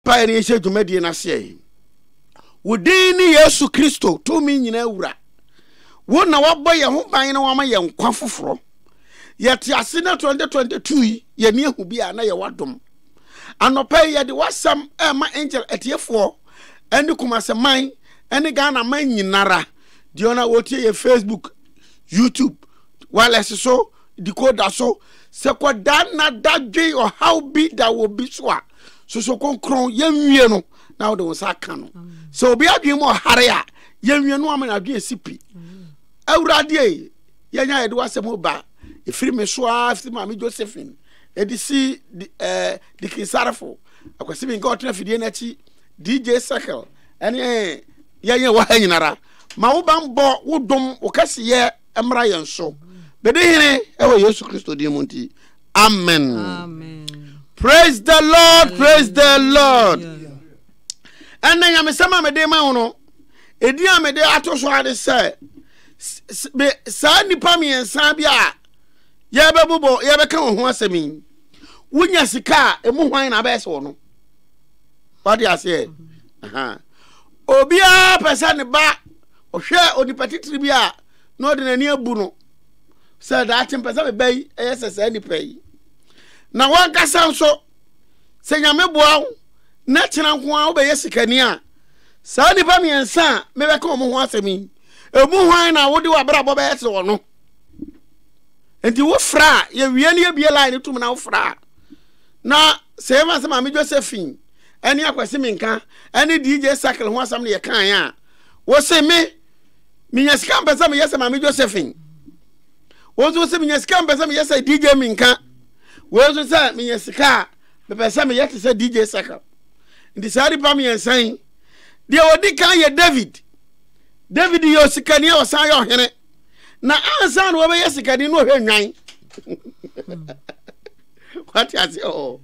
Pae ne nhyɛ dwumadie no aseɛ yi. Wo din ne Yesu Kristo, tumi nyinaa wura. Wo na wabɔ yɛn ho ban na wama yɛn nkwa foforɔ. Yɛte ase na 2022 yi yɛni ahu bi a na yɛwɔ adom. Anɔpa yi yɛde w'asɛm ɛma angel atiefoɔ ɛne Kumase man ɛne Ghana man nyinara. Deɛ ɔna wɔtie yɛ Facebook, YouTube, wireless so decoder so. Sɛ kwadaa nna dadwen ɔhaw bi da wɔ bi so a, soso kronkron yɛnwie no na wode wo nsa aka no. Sɛ obi adwene mu ɔhare a, yɛnwie no ama n'adwene si pi. Awurade ei, yɛnya yɛde w'asɛm ba ɛfiri me so a firi maame Josephine ɛde si eh, dikinsarefo akwasi bi nka ɔtena fidie n'akyi DJ Circle ɛne yɛnyɛ wɔ ha nyinara ma wo bammɔ wo dom wo kɛseyɛ mmra yɛn so bɛdi hene ɛwɔ yesu kristo din mu nti amen praise the lord praise the lord ɛnna nyamesɛm a mede ma wo no ɛdin a mede ato so ade sɛ saa nnipa mmiɛnsa bi a yɛbɛbobɔ yɛbɛka wɔn ho asɛm yi wonya sika a ɛmu hwan na abɛyɛ sɛ wɔ no wade aseɛ obiara pɛ sɛ ne ba Ɔhwɛɛ onipa titire bi a na ɔde n'ani abu no sɛ daakye mpɛ sɛ meba yi yɛ sɛ saa nipa yi. Na wankasa nso, sɛ Nyame boa wo na kyena nko ara wobɛyɛ sikani a, saa nnipa mmiɛnsa a mebɛka wɔn ho asɛm yi, emu hwan na wode w'abrabɔ bɛyɛ sɛ ɔno? Nti wofra a, yɛwie ne yɛbie line no tom na wofra a, na sɛ yɛma sɛ Maame Josephine ɛne Akwasi Menka ɛne DJ Sakle ho asɛm na yɛkaeɛ a, wɔse me menya sika mpɛ sɛ meyɛ sɛ maame josephine wɔn nso sɛ menya sika mpɛ sɛ meyɛ sɛ dj minka wɔn nso sɛ menya sika a mepɛ sɛ meyɛ te sɛ dj circle nti saa nipa mmiɛnsa yi deɛ wɔdi kan yɛ david david yɛ osikani a ɔsan yɛ ɔhene na ansa na wɔbɛyɛ sikani na ɔhwɛ nnwan wate ase ɔ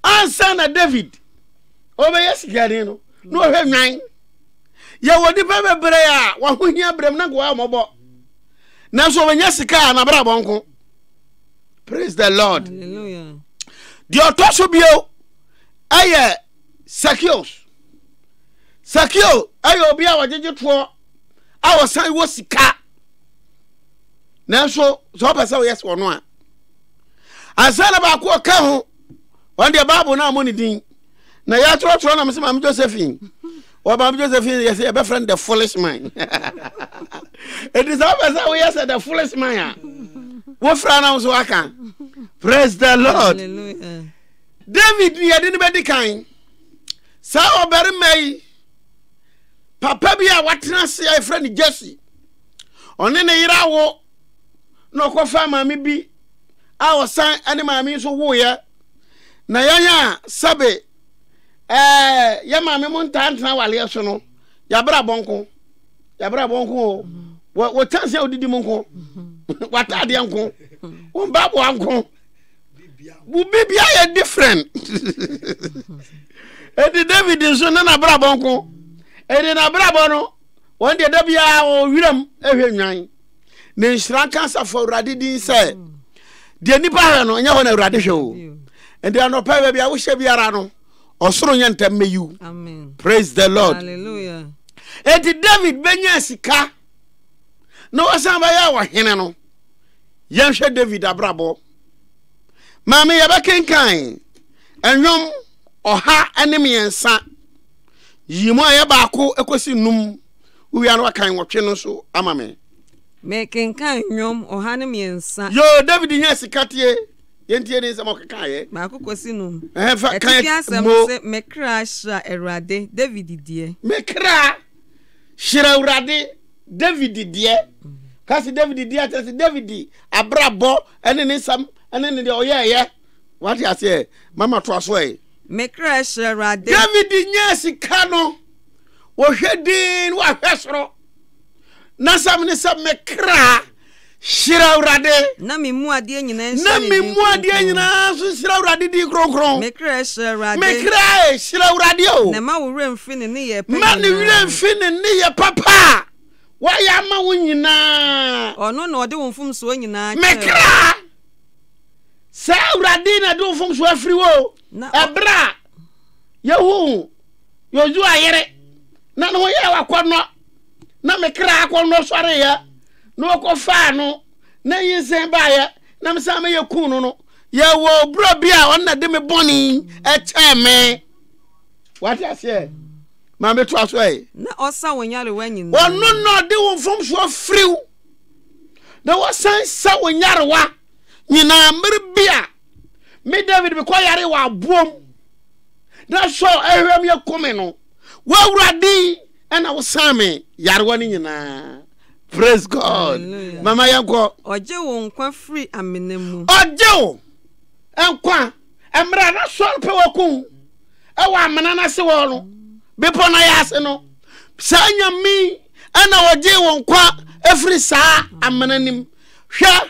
ansa na david ɔbɛyɛ sikani no na ɔhwɛ nwan yɛwɔ nnipa bebree a wɔho hia berɛm na nkoa mmɔbɔ nanso wɔnya sika a nabrabɔ nko praise the lord deɛ ɔtɔ so bio ɛyɛ sakios sakio ɛyɛ obi a wɔgyegye toɔ a wɔsan wɔ sika nanso sɛ wɔpɛ sɛ wɔyɛ sɛ ɔno a ansa na baako ɔka ho wɔn deɛ baabo no a mo ne din na yɛatorɔtorɔ na mese maame josephine wɔba me josephine yɛsɛ yɛbɛfrɛ no the foolish man ɛti sɛ wopɛ sɛ woyɛ sɛ the foolish man a wofra na wo so waka praise the lord Hallelujah. david ne yɛde no bɛdi kan saa ɔbarima yi papa bi a watena ase a yɛfrɛ no jesse ɔne ne yere awo na ɔkɔfa maame bi a ɔsan ne maame nso woeɛ na yɛn a sɛbe ɛɛ yɛ maame mo ntaa ntena awaleɛ so no yɛabrɛ abɔ nko yɛabrɛ abɔ nko o wɔtan sɛ wodidi mu nko wataadeɛ nko wo mpaboa nko bibia yɛ different ɛnti david nso ne nabrabɔ nko ɛnti nabrabɔ no wɔn deɛ da biara wɔwɔ wiram ɛhwɛ nnwan ne nhyira nka asafo awurade din sɛ deɛ nnipa hwɛ no ɛnyɛ hɔ na awurade hwɛ o ɛnti anɔpɛ baabi a wohyɛ biara no ɔsoro nyɛ ntɛm mɛyiw praise the lord ɛnti david bɛnya sika na wasan bɛyɛ ɔhene no yɛnhwɛ david abrabɔ maame yɛbɛkenkan ɛnwom ɔha ne mmiɛnsa yi mu a yɛ baako ɛkɔsi num Wowia no akan nwɔtwe no nso ama me. Mekenkan nnwom ɔha ne mmiɛnsa. Yoo, David hia sika tie. Yɛntie ne nsɛm a ɔkekaeɛ. Baako kɔsi num. Ɛhɛn fa kan Atifi asɛm mo. no se, Me kra hyira Awurade, David deɛ. Me kra hyira Awurade, David deɛ. Ka se David deɛ a, kyerɛ se David abrabɔ ne ne nsɛm ne ne deɛ ɔyɛeɛ. Wate aseɛ? Mama toa so ɛ. Me kra hyira Awurade. David nyaa sika no. Wɔhwɛ dinn na wɔahwɛ soro. N'asɛm ne sɛ, Me kra, hyira Awurade. Na me mu adeɛ nyinaa nhyira ne din kronkron. Na me mu adeɛ nyinaa nso nhyira Awurade din kronkron. Me kra hyira Awurade. Me kra hyira Awurade o. Na mma wo werɛ mfi ne nneyɛɛ pa nyinaa. Mma ne werɛ mfi ne nneyɛɛ papa a wayɛ ama wo nyinaa. Ɔno na ɔde wo mfomsoɔ nyinaa kyɛɛ. Me kra, sɛ Awurade na ɛde wo mfomsoɔ afiri wo o. Ɛberɛ a yɛhu Yosua yere, na ne ho yɛɛ akɔnnɔ, na me kra akɔnnɔ sɔreeɛ, na wɔkɔfaa no, na nyinsɛn baeɛ, na me san mɛyɛ kuu no no, yɛwɔ oburɔ bi a ɔno na de me bɔne kyɛɛ me. Wate aseɛ? Ma metoa so ɛ. Na ɔsa wo nyarewa nyinaa. Ɔno na ɔde wo mfomsoɔ firi wo, na wɔsan sa wo nyarewa nyinaa mmere bi a. Me David mekɔ yare wɔ aboɔm na sɔ ahwɛm yɛ kome no w'awurade ɛna wosan me yarewa no nyinaa praise god mama yɛnkɔ ɔgye wo nkwa firi amena mu ɔgye wo nkwa mmerɛ na sɔre pɛ wɔko ɛwɔ amena no ase wɔ no bepɔ no yɛ ase no saa nyame ɛna ɔgye wo nkwa ɛfiri saa amena nim hwɛ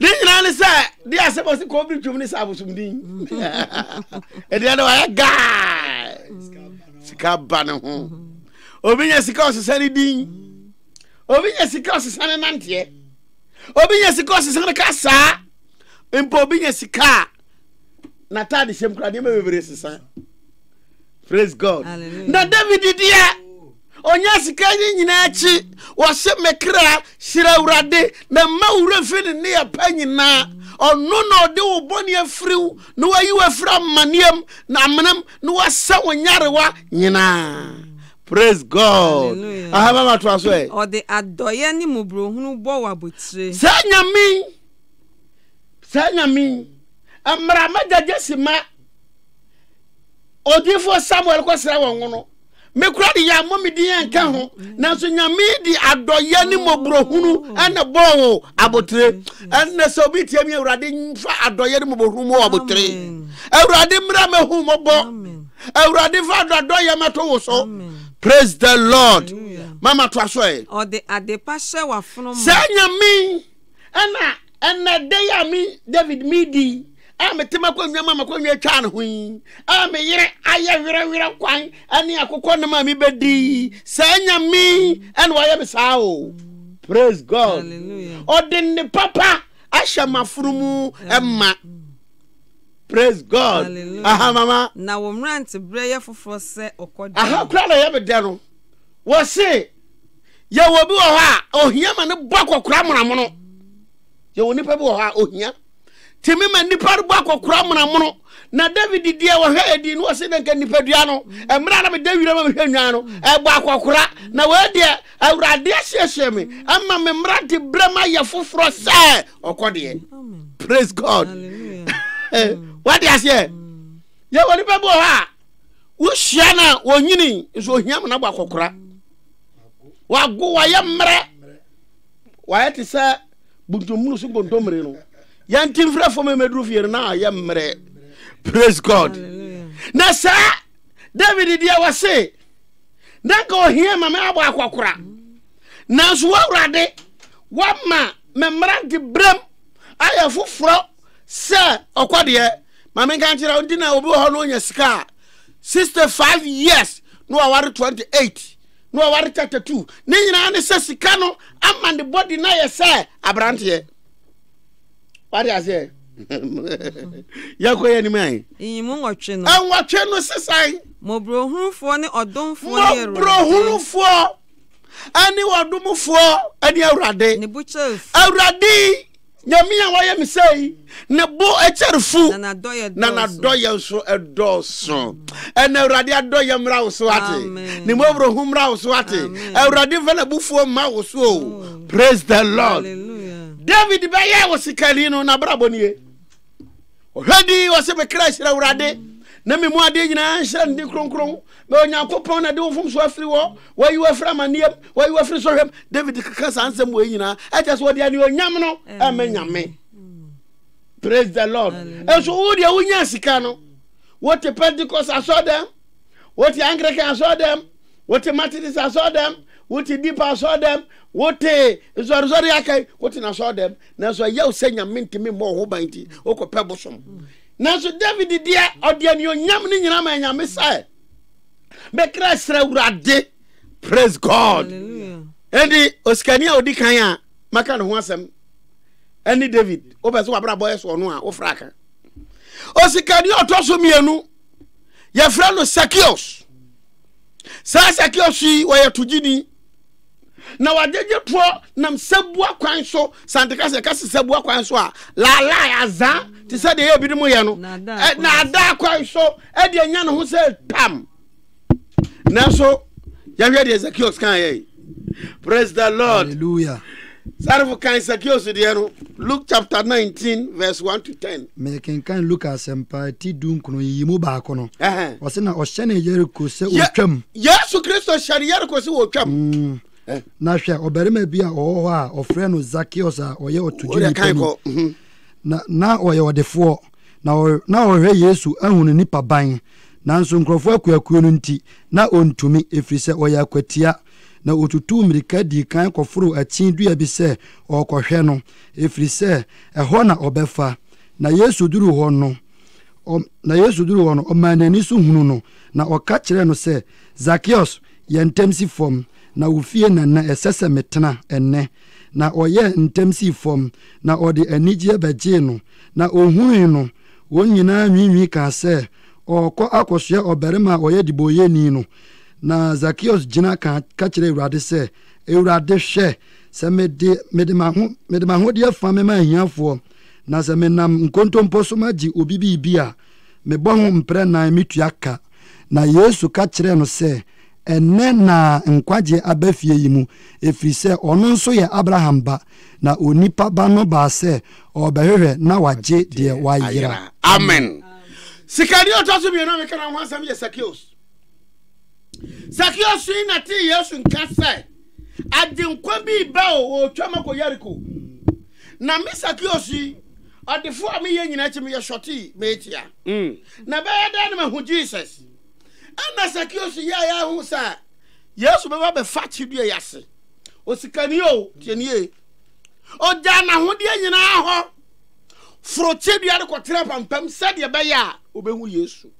ne nyinaa ne sɛ de asɛm ɔse kɔbere twam ne sɛ abosomdin ɛdeɛ no wayɛ gaa sika ba ne ho obi nya sika ɔsesa ne din obi nya sika ɔsesa ne nanteɛ obi nya sika ɔsesa ne kasaa mpo obi nya sika a n'ataade hyɛm kora nneɛma bebree sesa praise god na david deɛ Ɔnya sika yi nyinaa akyi, ɔse, Me kra, hyira Awurade, na mma wo werɛ fi ne nneyɛ pa nyinaa. Ɔno na ɔde wo bɔne afiri wo, na wayi wo afiri amaneɛ mu, na amena mu, na wasa wo nyarewa nyinaa. Praise God. Aha mama to aso ɛ. Ɔde adɔyɛ ne mmɔborɔhunu bɔ wo abotire. Saa nyame yi, saa nyame yi, mmara ma gyagye si ma odiifoɔ Samuel kɔsra wɔn no. me kora de yɛ ammɔ me din ɛnka ho nanso nyame de adɔyɛ ne mmɔborɔhunu ɛna bɔɔ wo abotere ɛnna sɛ obi tie me awurade mfa adɔyɛ ne mmɔborɔhunu mu abotere awurade mmra mɛhu mmɔbɔ awurade fa adɔdɔyɛ mɛto wo so praise the lord mama to aso ɛ sɛ nyame ɛna Ɛna da yi a me David medi a mete m'akonnwa ma m'akonnwa atwa ne ho yi a me yere ayɛ werɛwerɛ kwan ne akokɔ nom a mebɛdi saa nyame ɛna wayɛ me saa o praise god ɔde ne papa ahyɛ m'afono mu ɛma praise god Hallelujah. aha mama na wo mmerante berɛ yɛ foforɔ sɛ ɔkɔdeɛ aha kora na ɛyɛ me dɛ no wɔ se yɛwɔ obi wɔ hɔ a ohia ma ne bɔ akɔkora monamono yɛwɔ nipa bi wɔ hɔ a ohia tìmí ma nipa bɔ akɔkora monamono na david deɛ wɔhwɛ ɛdi no wɔsi nanka nipadua no mmerɛ na meda wira ma mehwɛ nnwan no ɛbɔ akɔkora na wɔadeɛ awurade asiesie me ama me mmerante berɛ ma yɛ foforɔ sɛ ɔkɔ deɛ praise god wade aseɛ yɛwɔ nipa bi wɔ hɔ a wohyia no a wɔnyini nso ohia ma no abɔ akɔkora wago wayɛ mmerɛ wayɛ te sɛ buntummunu so nkontommire no yɛn ti mfrɛfoɔ ma ɛmɛduru fie no na ayɛ mmerɛ praise god na saa david deɛ wɔse na nka ɔhia ma me abɔ akɔkora nanso woawurade woama me mmerante berɛm ayɛ foforɔ sɛ ɔkɔdeɛ ma menka nkyerɛ wo nti na obi wɔ hɔ no ɔnya sika a sixty five years na waware twenty eight na waware thirty two ne nyinaa ne sɛ sika no ama ne body na yɛ sɛ aberanteɛ wade aseɛ yɛkɔ yɛ anim ayi nyimu nwɔtwe no nwɔtwe no sesan mmɔborɔhunufoɔ ne ɔdomfoɔ ne awurade mmɔborɔhunufoɔ ɛne ɔdomfoɔ ɛne awurade ne bukyɛfoɔ awurade Nyame a wayɛ me sɛɛ yi, ne bo kyɛre fu, na n'adɔyɛ nso dɔɔso. Ɛna Awurade adɔyɛ mmra wo so ate, ne mmɔborɔhu mmra wo so ate. Awurade mfa n'abufuo mma wo so. Praise the Lord. David bɛyɛɛ wo sikani no, n'abrabɔ nie. ɔhwɛ di ɔsɛ me kra hyira awurade na me mu adeɛ nyinaa nhyira ne din kronkron na onyankopɔn na de wo mfomso afiri wɔ wayi wo afiri amanneɛm wayi wo afiri sɔhwɛm david keka saa nsɛm wɔ nyinaa ɛkyɛ sɛ wɔde anuonyam no ɛmɛ nyame praise the lord nso wo deɛ wonya sika no wote pentecost asɔ dɛm wote anglican asɔ dɛm wote methodist asɔ dɛm wote deep asɔ dɛm wote nsɔresɔre akai wote nasɔ dɛm nanso ɛyɛ wo sɛ nyame ntumi mmɔ wo ho ban nti wokɔpɛ bosom nanso david deɛ ɔde anuonyam no nyinaa ma nyame sɛ mɛkra serɛ awurade praise god ɛnti osikani a ɔdi kan a maka ne ho asɛm ɛne david wopɛ sɛ wabrabɔ yɛ soɔ no a wofra ka osikani a ɔtɔ so mmienu yɛfrɛ no sakios saa sakios yi wɔyɛ togyini na wagyegye toɔ nam sɛboa kwan so sante ka sɛ ɛka se sɛboa kwan so a laalaa azaa te sɛ deɛ yɛ binom yɛ no naadaa kwan so ɛde anya ne ho sɛ tam nanso yɛhwɛ deɛ zakios kan yɛ praise the lord sarefo kan zakios deɛ no Luke chapter nineteen verse one to ten. Mekenkan Luka asɛmpa ti dunkron yi mu baako no. Ɔsɛ na ɔhyɛne Yeriko sɛ ɔtwam. Yesu Kristo hyɛne Yeriko sɛ ɔtwam. Mm. Eh. Na hwɛ ɔbarima bi a ɔwɔ hɔ a ɔfrɛ no Zakeus a ɔyɛ ɔtodwo nipa ni. Mhm. Na na ɔyɛ ɔdefoɔ na na ɔhwɛ Yesu ahunu nipa ban. Nanso nkurɔfoɔ akuakuo no nti na ɔntumi ɛfiri sɛ ɔyɛ akwatia. na ɔtutuu mmirika dii kan kɔforoo akyin dua bi sɛ ɔrekɔhwɛ no, ɛfiri sɛ ɛhɔ na ɔbɛfa. Na Yesu duruu hɔ no, ɔ, na Yesu duruu hɔ no, ɔmaa n'ani so hunu no, na ɔka kyerɛɛ no sɛ, Zakeus, yɛ ntɛm si fam, na wo fie na na ɛsɛ sɛ metena ɛnnɛ. Na ɔyɛɛ ntɛm sii fam, na ɔde anigyeɛ bɛgyee no. Na ɔhunui no, wɔn nyinaa nwiinwii kaa sɛ, Ɔrekɔ akɔsoɛ ɔbarima a ɔyɛ debɔyɛni no. Na Zakeus gyina ka ka kyerɛ Awurade sɛ, Awurade, hwɛ, sɛ mede mede m'aho mede m'ahodeɛ fa mema ahiafoɔ, na sɛ menam nkontompo so magye obi biribi a, mebɔ ho mprɛ nan metua ka. Na Yesu ka kyerɛɛ no sɛ, Ɛnnɛ na nkwagyeɛ aba fie yi mu, ɛfiri sɛ ɔno nso yɛ Abraham ba, na Onipa Ba no baa sɛ ɔrebɛhwehwɛ na wagye deɛ wayera. Amen. Sikani a ɔtɔ so mmienu a meka ne ho asɛm yɛ Sakeus. Sakeo sui na tee Yesu nka sɛ, Agyenkwa bi reba o, ɔretwam akɔ Yeriko. Na me Sakeo sui, ɔdefo a meyɛ nyinaa akyi meyɛ sɔtee, meetia. Mm. Na ɛbɛyɛ dɛn na mahu Jesus? Ɛna Sakeo su yɛɛ ayɛ ho sɛ Yesu bɛba bɛfa akyidua yi ase. Osikani o, tie nie. Ogyaa n'ahodeɛ nyinaa hɔ, foro kyidua no kɔtena pampam sɛdeɛ ɛbɛyɛ a ɔbɛhu Yesu.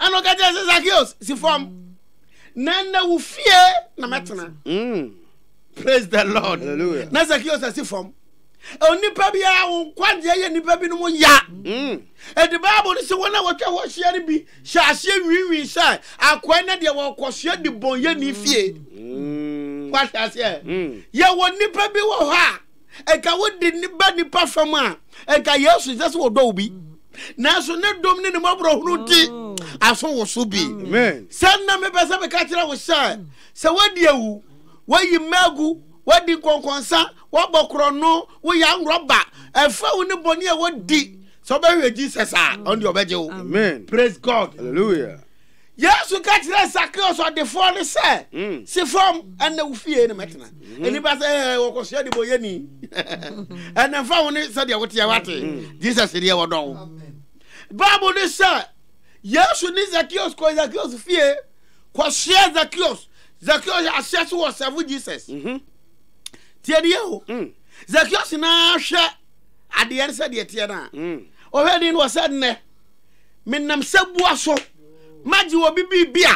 Ɛna ɔka kyerɛ sɛ Zacchaeus si fam na nnɛ wo fie na mɛtena. Mm. Praise the Lord. Hallelujah. Na Zacchaeus asi fam. Onipa biara wo nkwagyeɛ yɛ nnipa binom ya. Mm. Ɛde Bible no sɛ wɔn a wɔtwa hɔ ahyia no bi hyɛ aseɛ nwiinwii sɛ akoa na deɛ wɔkɔsoɛ de bɔn yɛ ne fie. Mm. Wahwɛ aseɛ. Mm. Yɛwɔ nnipa bi wɔ hɔ a nka wode ne ba nipa fam a nka yesu sɛ sɛ wɔdɔ wo bi nanso ne dom ne ne mmɔborɔhunu nti oh. aso wo so bi sɛ nna mepɛ sɛ meka kyerɛ wo sɛ sɛ woadi awu woayi mmagu woadi nkɔnkɔnsa woabɔ korɔno woyɛ anworɔba ɛfa wo ne bɔne a wodi sɛ wobɛhwɛ jesus a ɔnde ɔbɛgye wo praise god Hallelujah. Yesu ka kyerɛɛ Sakeo sɔdefoɔ no sɛ, mm. Si fam, ɛnna wo fie no mɛtena. Mm-hmm. Nnipa sɛ eh, wɔkɔsoa de bɔ yɛni. Ɛnna mfa wo ne sɛdeɛ woteɛ wate. Mm. Jesus deɛ wɔdɔ wo. Bible ne sɛ Yesu ne Zakeus kɔ Zakeus fie kɔsoa Zakeus. Zakeus ahyɛ so wɔ sɛfo Jesus. Mm-hmm. Tie ne yɛ o. Mm. Zakeus na hwɛ adeɛ no sɛdeɛ teɛ no a. Ɔhwɛ ni no wɔ sɛ nnɛ. menam sabua so magye obi biribi a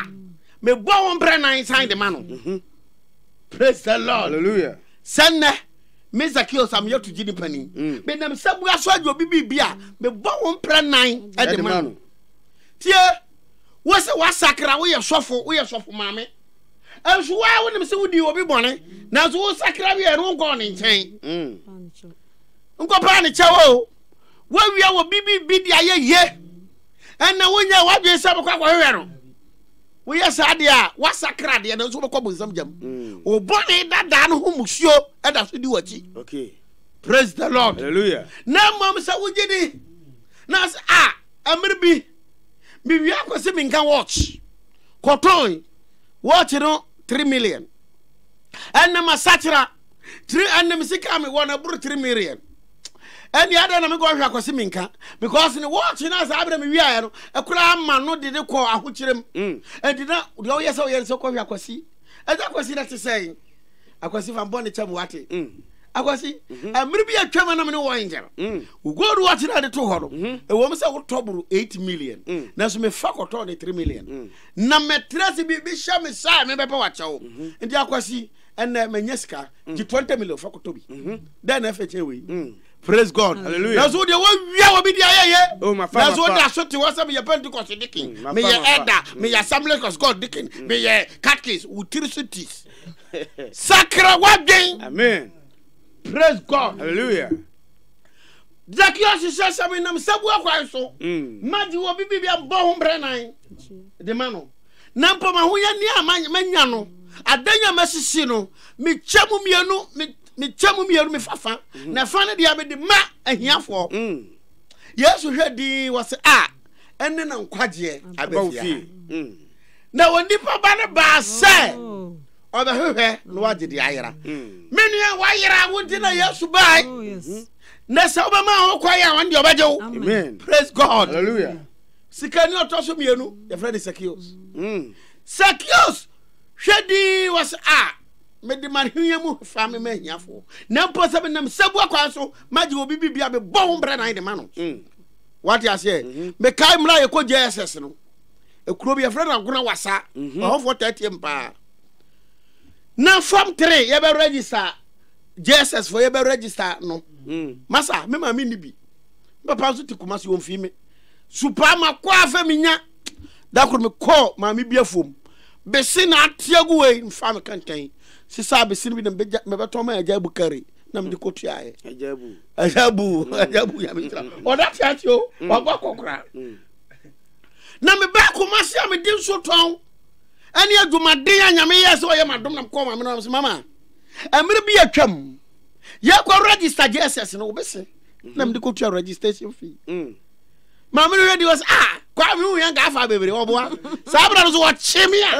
mebɔ ho mprɛ nan san de ma no mhm. praise the lord hallelujah sɛ nnɛ me zakeo sa meyɛ togye nipa ni mm. menam sabua so agye obi biribi a mebɔ ho mprɛ nan de ma no tie wo sɛ woasakra woyɛ sɔfo woyɛ sɔfo maame nso waa wonim sɛ wodi obi bɔne nanso wosakra wieɛ no wonkɔɔ ne nkyɛn mm. nkɔpaa ne kyɛw o woawia wɔ biribi de ayɛ ye ɛna wonyɛ w'adwene sɛ bɛkɔ akɔhwehwɛ no woyɛ saa deɛ a woasakra deɛ no nso wobɛkɔ bonsam gyam mm. wo bɔne dadaa no ho musuo ɛda so di w'akyi praise the lord Hallelujah. na mmom sɛ wogye di na sɛ a ɛmere bi mewia kɔ sɛ menka watch kɔtɔn watch no 3 million ɛnam asakyera ɛnam sika me wɔ no ɛboro 3 million ɛne adɛn na mekɔhwɛ akɔse menka because ne wɔɔkye no a saa berɛ mewiaeɛ no ɛkora ama no de ne kɔɔ ahokyerɛm mm. ɛnti na deɛ ɔyɛ sɛ ɔyɛ no sɛ kɔhwɛ akwasi ɛsɛ akwasi no te sɛn akwasi fa mbɔ ne kyɛm wate mm. akwasi mmere mm-hmm. bi atwam anam ne wɔn angel mm. gold watch na de to hɔ no mm-hmm. ɛwɔ m sɛ wotɔ boro 8 million mm. nanso mefa kɔtɔɔ ne 3 million na mɛtrɛ se biribi hyɛ me saa mebɛpɛ wakyɛw mm-hmm. nti akwasi ɛnɛ manya sika gye twenty million fa kɔtɔ bi dɛn na ɛfɛ kyɛn wei mm. praise god mm. hallelujah nanso deɛ wɔawia wɔ bi de ayɛ yɛ oh, nanso wɔde aso te hɔ sɛ meyɛ pentecost dikin mm, meyɛ ɛda meyɛ assemblies of god dikin meyɛ catkins wotiri so tis sakra wadwen amen praise god hallelujah Zacchaeus hyehyɛ sɛ menam sabu akwan so ma gye wɔ bibi bi abɔ ho mprɛ nan de ma no na mpo m'ahoyɛne a manya no adan a masisi no mekyɛ mu mmienu mekyɛ mu mmienu mefa fa mm. na fa no deɛ mede ma ahiafoɔ mm. yesu hwɛ din wɔ se a ɛne na nkwagyeɛ abɛfie mm. na onipa ba no baa sɛ oh. ɔbɛhwehwɛ na wagye de ayera me nua wayera wo nti na yesu bae oh, mm-hmm. na sɛ wobɛma ho kwae a ɔne deɛ ɔbɛgye wo praise god Hallelujah. Sikani a ɔtɔ so mmienu, yɛfrɛ no Sakios. Mm. Sakios hwɛ dii wɔ sɛ a mede m'ahonya mu fa me ma ahiafoɔ na mpo sɛ menam sabua kwan so magye obi biribi a mebɔ ho mbrɛ nan de ma no mm. wate aseɛ mm-hmm. mekae mmerɛ a yɛkɔ jss no ɛkuro bi yɛfrɛ no agona wasa mm-hmm. ɔhɔfoɔ tɛteɛ m paa na fam tere yɛbɛ register jss fo yɛbɛ register no mm. masa me maame nni bi papa nso te kuma se ɔmfii me su paa ma kɔ a fɛ menya da koro me kɔ maame bi afuom bese na ateɛ gu wei mfa me kɛntɛn sisa bese no bi na mebɛtɔ ma agya abu kari na mede kɔ tuaeɛ agya abu agya abu agya abu ya mekyira ɔda te ase o wabɔ akɔkora na mebɛ koma se a mede nso tɔn ɛne adwumaden a nyame yɛ sɛ ɔyɛ madom na mekɔ maame no mama ɛmere bi atwam yɛkɔ register jesus no wobɛse na mede kɔtua registration fee mm. maame no hwɛ di wɔ sɛ ah kwaa me wohia nka afa bebree ɔboa saa berɛ no so wɔkye me a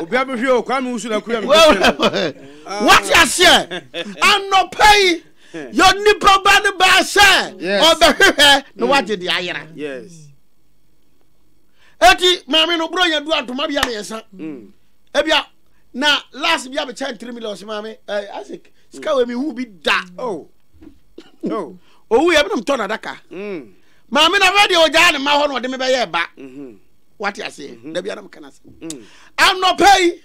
obia mehwɛ o kwaa me wosu na kura wate aseɛ anɔpa yi yɛ nipa ba no baa sɛ ɔbɛhwehwɛ na mm. wagye de ayera ɛti maame no borɔ yɛ du adoma bia meyɛsa mm. ebia na last bi abɛkyɛ ntiri million ɔsi maame ɛɛ eh, isaac sika wɔ mi hu bi da oh. oh. owu yɛ binom tɔ n'adaka mm. maame na fɛ deɛ ɔgyaa ne mma hɔ na ɔde mi bɛyɛ ɛba mm-hmm. wate aseɛ mm-hmm. dabi anam kana se mm. anɔpɛ yi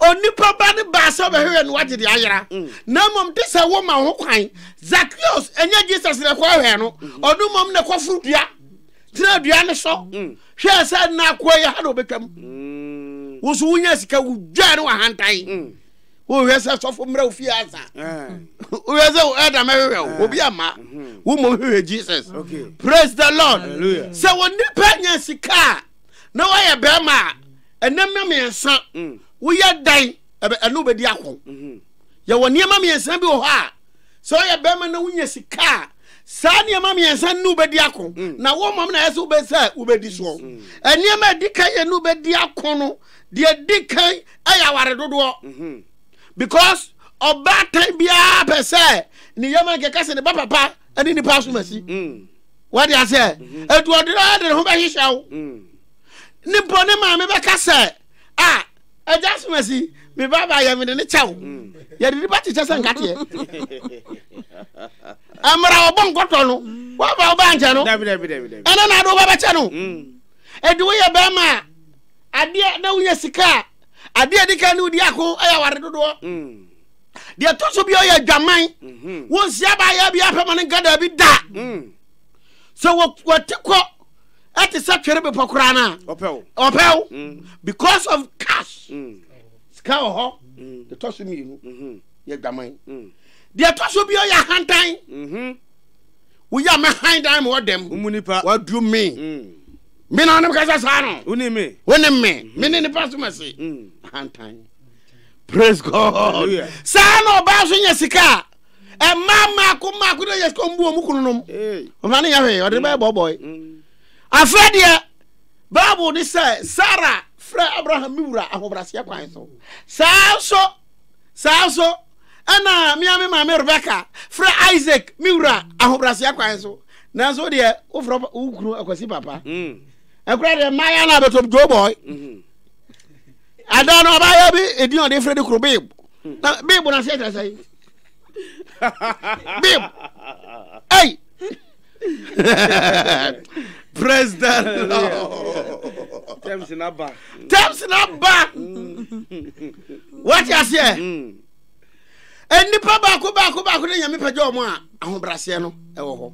onipa ba ne baa sɛ ɔbɛhwehwɛ no wagye de ayera mm. na mmom de sɛ woma ho kwan zakios ɛnyɛ jesus na ɛkɔ hwɛ no ɔno mmom na ɛkɔforo dua tena dua ne so hwɛ sɛ na akoa yɛ ha na ɔbɛtwam mm. wo so wonya sika wodwaa ne wahantan mm. wohwɛ sɛ sɔfo mmerɛ wo fie asa wohwɛ sɛ ɛda mɛhwehwɛ wo obi ama mm-hmm. wo mmom hwehwɛ jesus praise the lord sɛ wɔ nnipa nya sika a na woayɛ bɛrima a ɛnam na mmiɛnsa mm. woyɛ dan ɛno wobɛdi ako mm-hmm. yɛwɔ nneɛma mmiɛnsa bi wɔ hɔ a sɛ ɔyɛ bɛrima na wonya sika a saa nneɛma mmiɛnsa ne wobɛdi ako mm. na wo mmom na ɛyɛ sɛ wobɛsɛ a wobɛdi soɔ mm. nneɛma ɛdi kan yɛ ne wobɛdi ako no deɛ ɛdi kan ɛyɛ aware dodoɔ mm-hmm. because ɔbaatan biara pɛ sɛ ne yɛma nkɛka sɛ ne ba papa ne nipa asomasi mm. wade aseɛ ɛduɔdena mm-hmm. de ne ho bɛhyehyɛ wo ne bɔ ne maame bɛka sɛ ah ɛgya so masi me baaba yɛ mede ne kyɛw yɛde nipa kyekyɛ sɛ nkateɛ mmara ɔbɔ nkɔtɔ no woaba wobɛ ankyɛ no ɛna na ade wobɛbɛkyɛ no ɛde woyɛ bɛrima a adeɛ na wonya sika a adeɛ adi ka ne wodi ako ɛyɛ aware dodoɔ deɛ ɛtɔ so bi ɔyɛ adwaman wonsia baayɛ bi apɛ ma no nka daabi da sɛ wɔte kɔ ɛte sɛ twere bepɔ koraa no a ɔpɛw mm. because of cash mm. sika wɔ hɔ mm. deɛ ɛtɔ so mmienu mm-hmm. yɛ dwaman deɛ ɛtɔ so bio yɛ ahantan mm-hmm. woyɛ a mɛhan dan ma ɔdɛm waduru me me na ɔne mekasa saa no wone me wone me mm-hmm. me ne nipa so mɛse ahantan praise god saa na ɔbaa so nya sika a mmaa mmaako mmaako na yɛ sika ɔmo bu ɔmo kunu nom ɔmo ano yɛ hwee ɔde bɛyɛ bɔbɔe afɛ deɛ baabu ne sɛ sara frɛ abraham mi wura ahobraseɛ kwan so saa nso saa nso ɛna mmea mi maame rebeka frɛ isaac mi wura ahobraseɛ kwan so nanso deɛ wofrɛ wo kunu akwasi papa ɛkura deɛ mmaa yɛ na abɛtɔ dwobɔe adan no ɔbaa yɛ bi edin ɔde frɛ de kuro beebu. na beebo na aseɛ kyerɛ sɛ beeb ei praise the lord terms na ba terms na ba wate aseɛ nnipa baako baako baako ne nyame pɛgya ɔmo a ahobraseɛ no ɛwɔ hɔ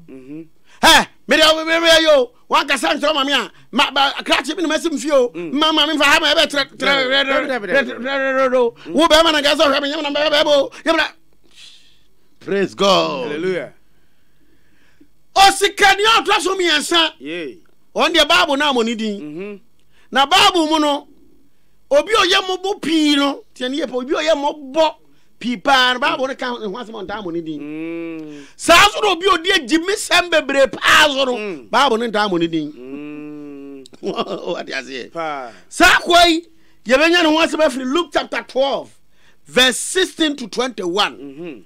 ɛ mede meyɛ yo wankasa nkyerɛ maame a ma ba krakye bi na masi mfie o mm. ma maame nfa ha ma ɛbɛ trɛ trɛ rɛ rɛ rɛ rɛ rɛ do wo bɛɛ ma na nka sɛ ɔhwɛ mi nyɛ na bɛɛ bɛɛ bo nyɛ na. praise god hallelujah. osikani ɔtɔ so mmiɛnsa wɔn deɛ baabu naa mo ni din mm-hmm. na baabu mu no obi ɔyɛ mo bo pii no tiɛ ni yɛ pɛ obi ɔyɛ mo bɔ. pii paa no bible no ka ne ho asɛm a ɔntaa mmɔ ne din saa nso na obi a ɔdi agyimisɛm bebree paa so no bible no ntaa mmɔ ne din wate aseɛ saa akoa yi yɛbɛnya ne ho asɛm afiri luke chapter 12 verse 16 to 21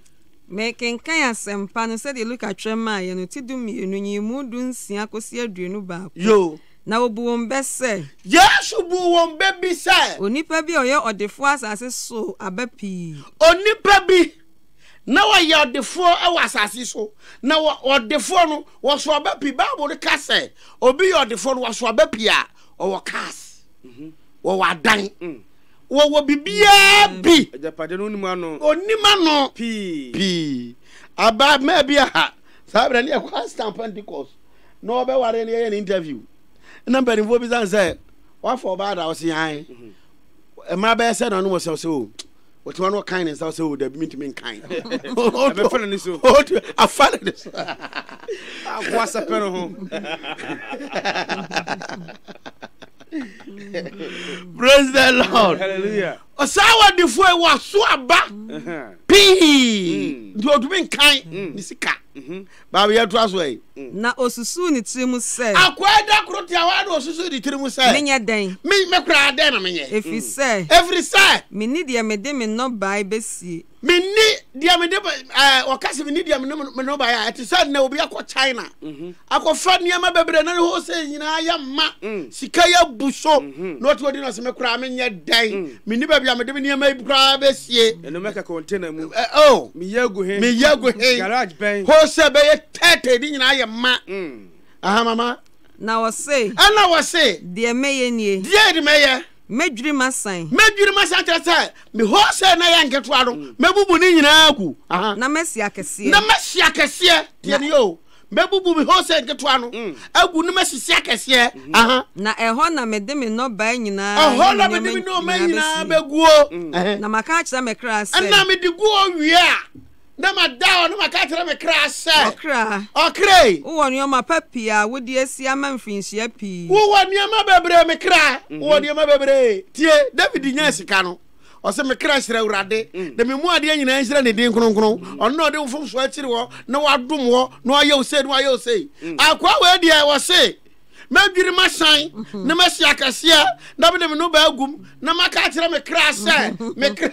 mekenkan asɛmpa no sɛdeɛ luka twerɛ maaeɛ no ti du mmienu nyimu du nsia kɔsi aduonu baako yo Na ɔbu wɔn bɛ sɛ. Yesu buu wɔn bɛ bi sɛ. Onipa bi a ɔyɛ ɔdefoɔ asase so aba pii. Onipa bi, na ɔyɛ ɔdefoɔ wɔ asase so, na ɔdefoɔ no, ɔso aba pii. Bible no ka sɛ, obi yɛ ɔdefoɔ no, ɔso aba pii a, ɔwɔ cars, ɔwɔ adan, ɔwɔ biribiara bi. Agyapadeɛ no ɔnim ano. Ɔnim ano. Pii. Pii. Abaa mmaa bi aha, saa berɛ ne ɛkɔ Astan Pentecost. na wɔbɛware no yɛyɛ no interview na mpanimfoɔ bisa no sɛ wafa ɔbaa da ɔse ae mmara bɛyɛ sɛ na ɔnom ɔsɛ ɔsɛ o wɔte hɔ no ɔkan ne nsa ɔsɛ o dabi mentumi nkan ɛbɛfa no ne so afa no ne so akoasɛpɛ no ho praise the lord hallelujah ɔsaa wɔdefoɔ yi wɔaso aba pii nti ɔtumi nkan ne sika Baabi a ɛtoa so yi. Na ɔsusuu ne tiri mu sɛ. Akoa yi da koro te a, hɔ ara na ɔsusuu ne tiri mu sɛ. Menyɛ dɛn? Me, me koraa, dɛn na menyɛ? Ɛfiri sɛ. Ɛfiri sɛ. Menni deɛ mede me nnɔbae bɛsie. Menni deɛ mede, ɛɛ, ɔka sɛ menni deɛ mede me nnɔbae a, ɛte sɛ nnɛ obi akɔ China, akɔfa nneɛma bebree na ne wholesale nyinaa yɛ ma, sika yɛ abu so, na ɔte hɔ di no sɛ, Me koraa, menyɛ dɛn? Menni baabi a mede me nneɛma yi koraa bɛsie. Ɛno mɛka kɔntena mu. Ɛ o. Oh. Meyɛ agu he. Meyɛ agu he. Garage bɛn. Hɔ sɛ bɛyɛ tɛɛtɛɛ de nyinaa yɛ ma. Mm. Aha mama. Na wɔse. Ɛna wɔse. Deɛ mɛyɛ nie. Deɛ de mɛyɛ. Mɛdwiri masan. Mɛdwiri masan kyerɛ sɛ me hɔ sɛ na yɛ nketewa no. Mm. Mɛbubu ne nyinaa agu. Aha. Na mɛsi akɛseɛ. Na mɛsi akɛseɛ. Deɛ ne yɛ o. Mɛbubu me hose nketewa no mm. agu na masisi akɛseɛ. Mhm. Na ɛhɔ na mede me nnɔbae nyinaa ɛhɔ na mede me nnɔbae nyinaa bɛguo. Mm. Na maka akyerɛ me kra sɛ. ɛna mede gu owie a na mada hɔ na maka akyerɛ me kra sɛ. ɔkra ɔkra. wowɔ nneɛma pa pii a wode asi ama mfirinhyia pii. wowɔ nneɛma bebree me kra. Mhm. wowɔ nneɛma bebree tie david nya sika no. ɔsɛ me kra hyerɛ awurade mm. na memu adeɛ nyinaa nhyira ne din kronkron mm. ɔno na ɔde wo fomsoɔ akyiri hɔ na wadom hɔ na wayɛ wo sei na wayɛ wo sei mm. akoa wei deɛ wɔse mɛdwiri masan mm-hmm. na masi akɛseɛ na mede me no baagum na maka akyerɛ me kra sɛ mm-hmm. me kra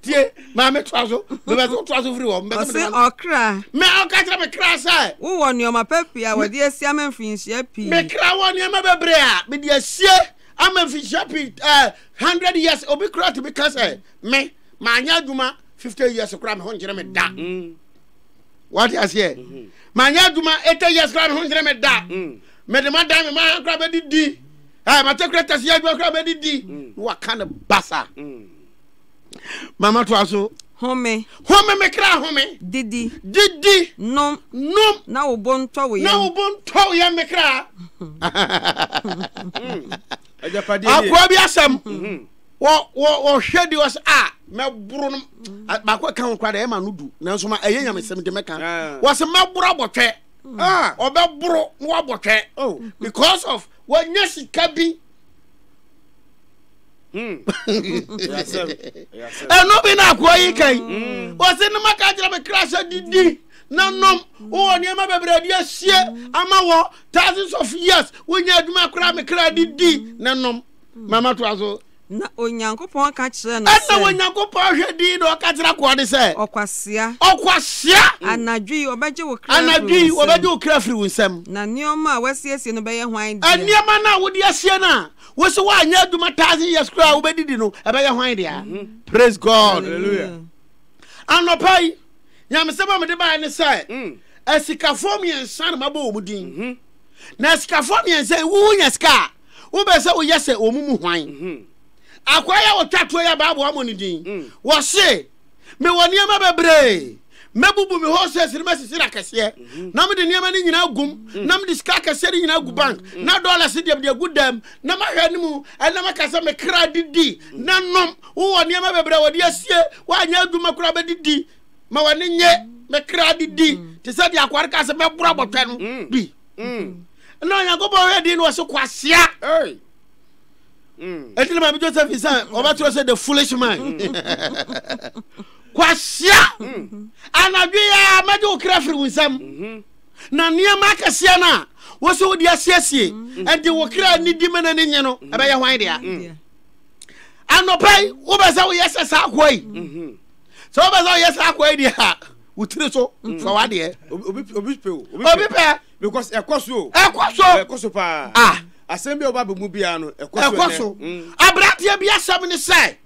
tie maa me toa so mebɛ so toa so firi hɔ mebɛ so mede ɔkra me ɔka kyerɛ me kra sɛ wowɔ nneɛma pa pii a wɔde asia me mfinhyia pii me kra wɔ nneɛma bebree a mede asie ama mfinhyia pii ɛɛ eh, hundred years obi kura tumi ka sɛ me maa nyɛ adwuma fifty years kura me ho nkyerɛ me da mm. wate aseɛ mm-hmm. maa nyɛ adwuma eighty years kura me ho nkyerɛ me da mm. mede ma dan me maa kura bɛdi di ɛɛ mate kura tɛsi adwuma kura bɛdi di na waka ne basa mama to aso. home home me kra home didi didi nom nom na wo bo ntɔ wo yam na wo bo ntɔ wo yam me kra akoa bi asɛm mhm. wɔhwɛ de wɔsɛ a ah, mɛboro no mm. baako ɛka ho kora dɛ ɛma no du nanso ma ɛyɛ nyamesɛm de mɛka ah. wɔsɛ mɛboro abɔtwɛ mm. ah. ɔbɛboro na wabɔtwɛ oh. because of wɔnyɛ sika bi hmm. ɛno bi na akoa yi kan hmm. wɔsɛ no maka kyerɛ me kra sɛ didi na nom wowɔ nneɛma bebree de asie ama wɔ thousands of years wonyɛ adwuma koraa me kra de di na nom mama toa so na onyankopɔn ka kyerɛ no sɛ ɛna onyankopɔn hwɛ din na ɔka kyerɛ akoa de sɛ ɔkwasea ɔkwasea anadwo yi ɔbɛgye wo kra anadwo yi ɔbɛgye wo kra firi wo nsam na nneɛma a wasiesie no bɛyɛ hwan dea nneɛma no a wode asie no a wosi woanyɛ adwuma thousand years koraa a wobɛdidi no ɛbɛyɛ hwan dea praise god Hallelujah. anɔpa yi Nyamesɛm a mede baeɛ ne sɛ, asikafoɔ mmiɛnsa na mabɔ wɔn din. Na asikafoɔ mmiɛnsa yi, wonya sika a, wobɛ sɛ woyɛ sɛ wɔn mu hwan? Akoa yi a ɔtwa toɔ yi a Bible ammɔ ne din, ɔse, Mewɔ nneɛma bebree. Mɛbubu me horses no, mɛsisi no akɛseɛ, na mede nneɛma no nyinaa agu mu, na mede sika akɛseɛ no nyinaa agu bank, na dollars deɛ mede agu dan mu, na mahwɛ anim, ɛnna maka sɛ, 'Me kra didi na nom, Wowɔ nneɛma bebree a wɔde asie, woanyɛ adwuma koraa bɛdidi ma w'ani nye, me kra didi, te sɛ deɛ akoa no kaa sɛ mɛboro abɔtwɛ no mm. bi. Mm. Na Onyankopɔn hwɛ din no wɔ so kwasea. Ɛti na Maame Josephine sɛ ɔbɛtwerɛ sɛ the foolish man. Kwasea anadwo yi a mɛgye wo kra firi wo nsam. Mm-hmm. Na nneɛma akɛseɛ no a wɔ sɛ wode asiesie ɛde wo kra nidi ma no ani nye no ɛbɛyɛ hwan dea. anɔpa yi wobɛ sɛ woyɛ sɛ saa akoa yi mhm. sɛ wobɛ sɛ woyɛ saa akoa yi deɛ a wo tiri so mhm. fa wadeɛ obi pɛ because ɛkɔ so ɛkɔ so ɛkɔ so paa ah asɛm bi a ɔba bɛmu biara no ɛkɔ so mm. aberanteɛ bi asɛm ne sɛ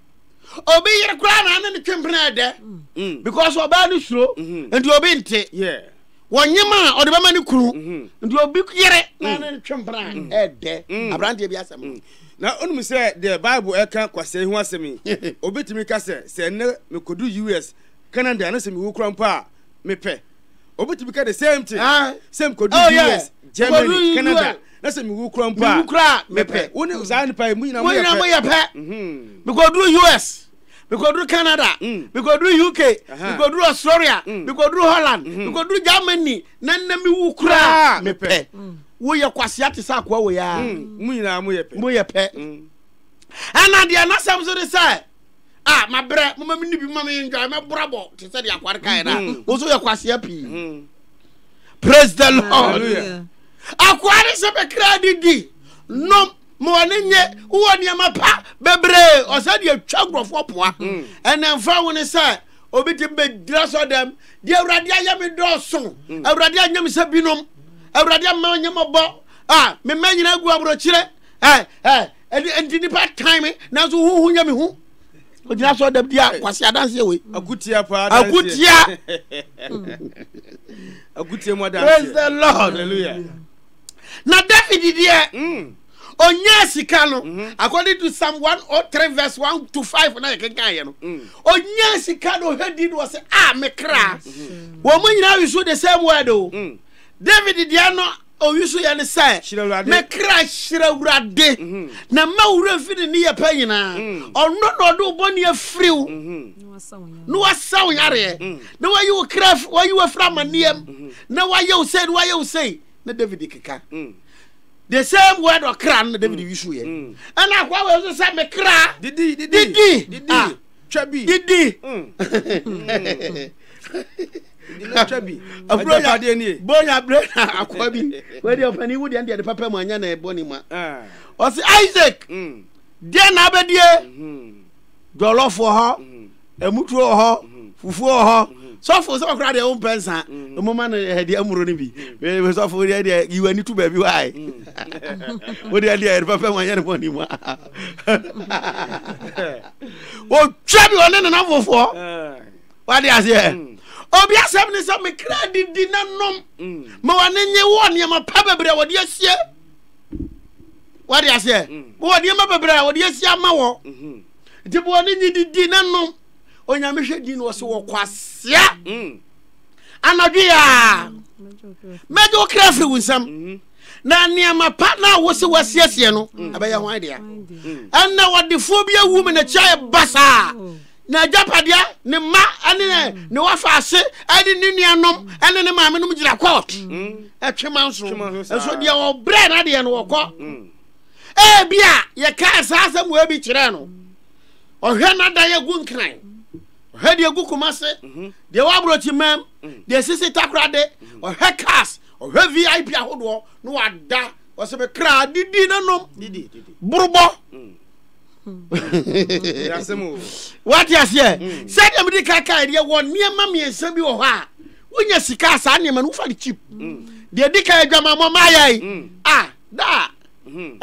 obi yere koraa na ane ne twempena ɛdɛ mm. because ɔbaa no suro mm-hmm. nti obi nte wɔnyem a ɔde bɛma ne kunu mm-hmm. nti obi yere na ane ne twempena ɛdɛ aberanteɛ bi asɛm Na onim sɛ deɛ Bible ɛka kwasɛe ho asɛm yi, obɛtumi ka sɛ, sɛ nnɛ mekɔdu US, Canada na sɛ mewu kora mpo a, mepɛ. Obɛtumi ka the same thing, sɛ mekɔdu US, Germany, Canada na sɛ mewu kora mpo a, mepɛ. Wo ne saa nnipa yi, mo nyinaa moyɛ pɛ. Mekɔduru US, mekɔduru canada mekɔduru uk mekɔduru australia mekɔduru holland mekɔduru germany na nna mewu koraa mepɛ woyɛ kwasea te sɛ akoa wei a mu nyinaa moyɛ pɛ ɛna deɛ nasɛm so de sɛ a mabrɛ moma me ne bi ma meyɛndwae mɛborabɔ te sɛ deɛ akware kaɛ no a wo so yɛ kwasea pii praise the lord akoa ne sɛ bɛkra didi nom ma ɔne nye wowɔ nneɛma pa bebree ɔsɛ deɛ twa nkurɔfoɔ poa hmm. ɛnɛ mfa wo ne sɛ obi te bɛgyina sɔ dɛm deɛ awurade ayɛ me dɔɔso hmm. awurade anyɛ me sɛ binom awurade ama ɔnyɛ mɔbɔ a mema nyina agu aborɔkyerɛ nti nnipa tan me nanso hoho nyɛ me ho ogyina sɔ dɛm deɛ akwase adanseɛ wei akutia paa akutia akutia mu adanseɛ praise the lord hallelujah Na David deɛ, mm. onyaa sika no, mm -hmm. according to Psalm 103 verse 1 to 5 na yɛkenkan yɛ no, mm. onyaa sika no ɔhwɛ di no wɔ sɛ, a me kra, mm -hmm. wɔn mo nyinaa wiso the same word o. Mm. David deɛ no owiso yɛ ne sɛ, me kra hyerɛ Awurade, mm -hmm. na ma wura mfi ne ne yɛ pɛ nyinaa, mm. ɔno na ɔde wo bɔne afiri wo, mm-hmm. na wasaw yareɛ, mm. na wayi wo kra, wayi wo afiri amanneɛm, mm-hmm. na wayɛ wo sɛ, na wayɛ wo sɛ. na david keka mm. the same word ɔkra no na david mm. yusu yɛ mm. ɛna akoa wɔ nso sɛ mekra didi didi didi ah. twa bi didi bonya berɛ na akoa bi wɛde ɔpani wo deɛ deɛ de papa mu anya na ɛbɔ ne ma ah. ɔse isaac deɛ na abɛdie mm-hmm. Jollof wɔ hɔ, ɛmutuo wɔ hɔ, fufuo wɔ hɔ. Sɔfo sɛ ɔkora deɛ wo mpɛ nsa. Ɛmu ma no ɛdi amuro no bi. Bɛbɛ sɔfo deɛ deɛ yi wani to baabi wae. Wo deɛ deɛ ɛdi pɛpɛ ma yɛ ne bɔ ne mu. Wo twa bi ɔne ne na fofoɔ. Wa de aseɛ. Obi asɛm ne sɛ me kra didi na nom. Ma wa ne nye wo nneɛma pa bebree wɔde asie. wade aseɛ mm. bɔwɔ nneɛma bebree a wɔde asi ama wɔ mhm. nti bɔwɔ ne nyi didi ne nom onyame hwɛ din no ɔsɛ wɔ kwasia mm. anadwo yɛ a mɛgye wo kra firi wo nsam mhm. na nneɛma pa na wo se wasiesie no mm. ɛbɛyɛ ho dea ɛnna wɔdefoɔ bi awu mu na kyia yɛ basaa n'agyapadeɛ ne mma ne mm. ne wafaase ne ne nuanom ne ne maame nom gyina court mm. ɛtwema nso nso deɛ ɔbrɛ no adeɛ no wɔkɔ mm. ebi a yɛkaa saa asɛm wɔ bi kyerɛ no ɔhwɛ n'ada yɛ gu nkran ɔhwɛ deɛ gu kuma se mhm. deɛ waborɔkyi mam deɛ sisi takorade mhm. ɔhwɛ cars ɔhwɛ vip ahodoɔ na wada ɔsɛ me kra didi nanom borobɔ wate aseɛ hmm. sɛdeɛ mede kakae deɛ wɔ nneɛma mmiɛnsa bi wɔ hɔ a wonya sika a saa nneɛma no wofa no chip hmm. deɛ di ka adwamammɔ maayɛe hmm. a daa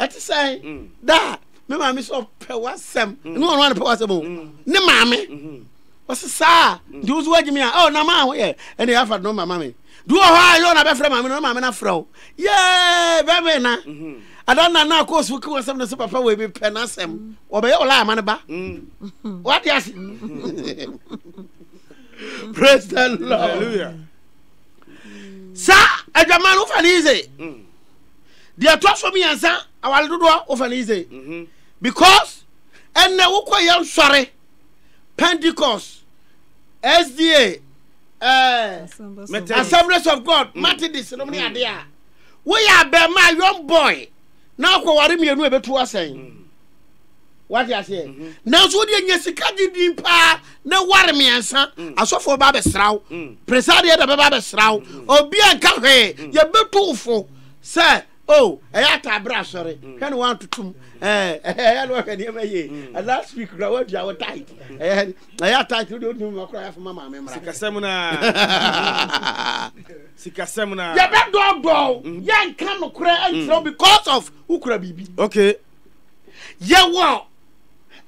ɛte sɛ daa me maame sɛ ɔpɛ w'asɛm ne ɔno ane pɛ w'asɛm o ne maame ɔse saa nti wo so woagyimi a na maa ho yɛ ɛne yɛafa no mama me Bi wɔ hɔ a yɛ ɔna bɛfrɛ maame no, maame no afrɛ wo. Yee, bɛbɛ na. Mhm. Ada na na akɔ so kiwa sɛm no sɛ papa wei bepɛ n'asɛm. Mm. Wɔbɛyɛ ɔla ama no ba. Mm. Wate ase? Mm. Praise the Lord. Hallelujah. Sa adwaman wofa ne yize. Deɛ ɛtɔ so mmiɛnsa awale dodoɔ wofa ne yize. Mm-hmm. Because ɛnna wokɔ yɛ nsɔre. pentecost sda eh, assemblies of god methodist nom ne ade a woyɛ abɛɛma a young boy na akɔware mmienu a ɛbɛtu asɛn wate aseɛ nanso wodeɛ nya sika gye din paa na ware mmiɛnsa asɔfoɔ ba bɛsra wo presadeɛ da bɛba bɛsra wo obi a nka hwee yɛbɛtu wo fo sɛ Oh ɛyɛ ataa bere asɔre hwɛ no wantoto mu ɛyɛ no wahwɛ nneɛma yie mm. last week kura wadua wo tight ɛyɛ ɛyɛ tight wode wodi mu akora yɛfo ma maame mmra sikasɛm no sikasɛm no yɛbɛdɔɔdɔɔ mm. yɛnka nokorɛ nkyerɛ mm. because of wokura biribi okay yɛwɔ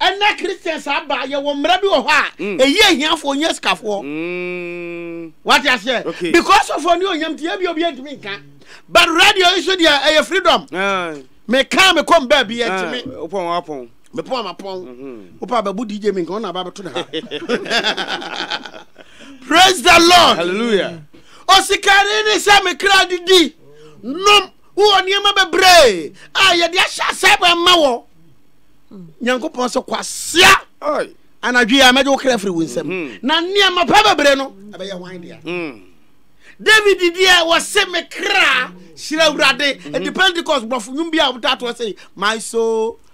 Ɛnnɛ Christians aba, yɛwɔ mmara bi wɔ hɔ a, mm. ɛyi ahiafoɔ nyɛ sikafoɔ. Mm. Wate aseɛ? Okay. Because of ɔne onyam ti, ebi obi ntumi nka. But radio yi so deɛ ɛyɛ freedom. Ah. Meka me kɔm baabi yɛ ntumi. Ah, wopɔn wapɔn. Mepɔn ama pɔn. Mhm. Wopɛ abɛbu DJ mi nka ɔna aba abɛto ne ha. Praise the Lord. Hallelujah. Osikari ni sɛ mekra didi nom wowɔ nneɛma bebree a yɛde ahyɛ asɛe bɔ ɛma wɔ nyankopɔn sɛ kwasea anadwo yɛ a mɛgye wo kra firi wo nsam mm-hmm. na nneɛma pa bebree no ɛbɛyɛ hwan dea mm. david deɛ wɔse me kra hyerɛ awurade ɛde mm-hmm. pentecost borɔfo nwom bi a wɔtatoɔ sei my soul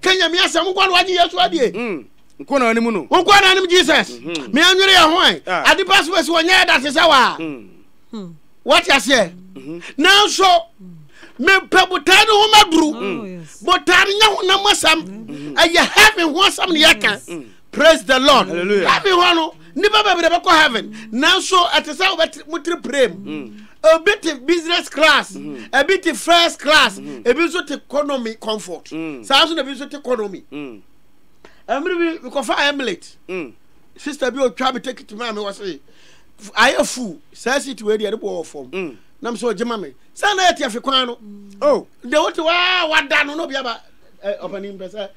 Ka Nyame asɛm nkwa no wagye Yesu adie. Mm. Nkwa na anim no. Nkwa na anim Jesus. Mm -hmm. Me anwere yɛ ho ɛ. Ah. Ade pa so bɛsi wɔnyɛ ɛda te sɛ waa. Mm. Hmm. Wate aseɛ. Mm -hmm. Nanso mepɛ botaa no ho maduru. Mm. Botaa no nyɛ honam asɛm. Mm. Ɛyɛ heaven ho asɛm ne yɛka. Mm. Praise the Lord. Hallelujah. Heaven hɔ no, nipa bebree bɛkɔ heaven. Nanso ɛte sɛ wobɛte mo tiri pere mu. Mm. Ebi te business class, mm-hmm. ebi te first class, mm-hmm. ebi nso te economy comfort. Mm. Saa nso na ebi nso te economy. Mm. Ɛmiri bi mekɔfa Emulate. Sista bi otwa mi tekiti maa mi wɔ se ayɛ fu saa seat wei deɛ ɛde bɔ wɔ fam. Nam so ɔgye ma mi. Saa na yɛ te afi kwan no. Oh. Deɛ wote waa wada no n'obi aba ɔpanin pɛ sɛ.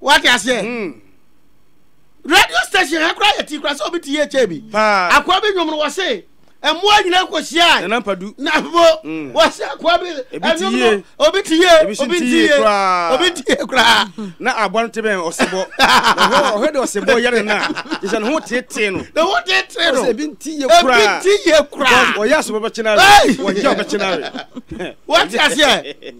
wate aseɛ hmm. radio station ha koraa yɛte koraa sɛ obi te yɛ kyɛ bi akoa bi nwom no wɔ se mmoa nyina kɔhyiae na bo hmm. wɔ se akoa bi ɛnwom no obi te yie obi nte yie obi nte yie koraa na aboa no te bɛn ɔsebɔ ɔhwɛ de ɔsebɔ yɛ ne na te sɛ ne ho teetee no ne ho teetee no ebi nte yie koraa ebi nte yie koraa ɔyɛ asebɔ bɛkyena re ɔyɛ ɔbɛkyena re wɔte aseɛ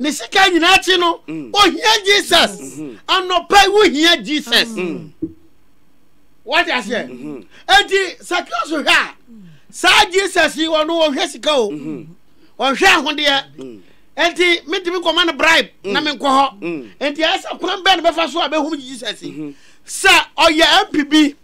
ne sika nyinaa akyi no mm. ohia jesus mm-hmm. anɔpa yi wohia jesus mm. wate aseɛ mm-hmm. enti sakeo so hwɛ a saa jesus yi ɔno ɔhwɛ sika o mm-hmm. ɔhwɛ ahodeɛ mm. enti metumi kɔma no bribe na menkɔ hɔ enti ɛyɛ sɛ kwan bɛɛ no bɛfa so a bɛhum jesus yi sɛ ɔyɛ mp bi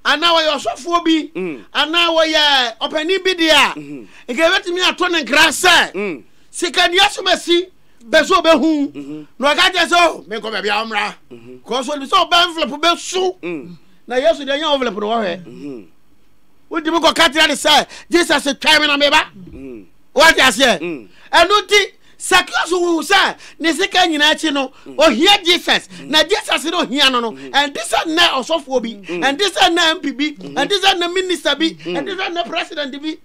anaa ɔyɛ ɔsɔfoɔ bi anaa ɔyɛ ɔpanin bi deɛ a nka yɛbɛtumi ato ne nkra sɛ Sika nia so ma si bɛ so bɛ hu mhm. na ɔka kyɛ sɛ oh, menkɔ baabi a ɔmmra mhm. kɔ so nim sɛ ɔbɛ envelope bɛ su mm. na yesu deɛ nyɛ envelope no wɔhwɛ mhm. wotumi kɔ ka kyerɛ ne sɛ jesus twɛn me na meba mm. wate aseɛ mm. ɛno nti sakios hu sɛ ne sika nyinaa akyi no ohia jesus na jesus no ohia no no ɛnte sɛ nnɛ ɔsɔfoɔ bi ɛnte sɛ nnɛ mp bi ɛnte sɛ nnɛ minista bi ɛnte sɛ nnɛ president bi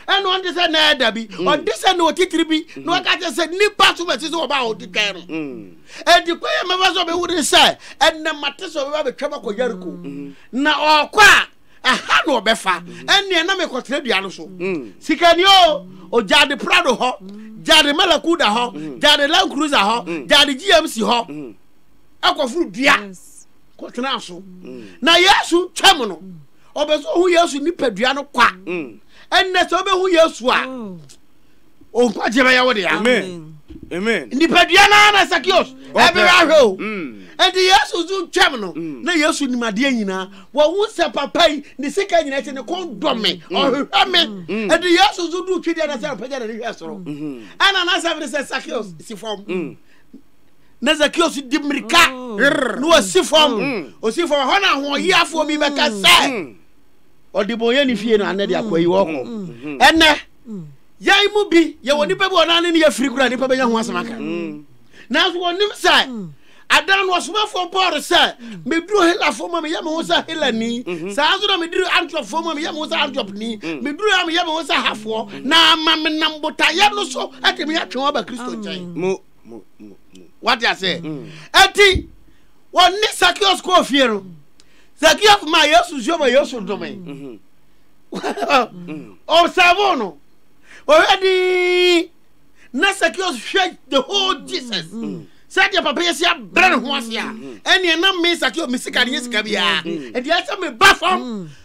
ɛna ɔnte sɛ na ɛda bi mm. ɔnte sɛ na ɔtitiri bi mm-hmm. na ɔka kyɛ sɛ nipa so bɛsi sɛ ɔba a ɔde twɛn no mm. ɛdi kɔ yɛ mɛfa sɛ ɔbɛwu ne sɛ ɛnna mate sɛ ɔbɛba bɛtwa bɛkɔ yariko mm-hmm. na ɔkɔ a ɛha na ɔbɛfa mm-hmm. ɛnneɛ na mekɔtena dua no so mm. sikani o ɔgyaade prado hɔ gyaade malakuda hɔ gyaade land cruiser hɔ gyaade gmc hɔ ɛkɔforo dua kɔtena so na yesu twam no ɔpɛ sɛ ɔhu yesu nipadua no kwa mm. ɛnnɛ sɛ wobɛhu yesu a mm. ɔnkwagye bɛyɛ wo dea nipadua no na sakios ɛbɛrɛ ahwɛ o ɛnti mm. yesu so twam no na yesu nimadeɛ nyinaa wɔhu sɛ papa yi ne sika nyina kyɛ ne kɔn dɔ me ɔhwehwɛ me ɛnti yesu so duu twedeɛ no sɛ ɔpɛgya nane hwɛ soro ɛna nasɛm ne sɛ sakios si fam na zakeo so di mmirika mm. na wasi fam mm. osi fam hɔ na ahoɔyiafoɔ bi bɛka mm. sɛ ɔdebɔnyɛ ne fie no anɛ de akɔ yi wɔkɔ ɛnɛ yɛn mu bi yɛwɔ nipa bi ɔnane ne yɛfiri kora nipa bɛnya ho asɛm aka nanso wɔnim sɛ adan no ɔsomafoɔ paul sɛ meduru helafoɔ ma meyɛ me ho sɛ helani mhm. saa nso na meduru antropfoɔ ma meyɛ me ho sɛ antropni mhm. meduru a meyɛ me ho sɛ hafoɔ na ama menam botaeɛ no so atumi atwe wɔn aba kristo nkyɛn wate aseɛ ɛnti mm. wɔne sakios kɔɔ fie no sakios ma yesu nsuo ma yesu dome mhm. mm. ɔsɛbo no ɔhwɛ dii na sakios hwɛ the whole mm. jesus sɛdeɛ papa yɛsi abrɛ ne ho ase a ɛneɛ na me sakios me sika ne yɛ sika biaa ɛdeɛ sɛ meba fam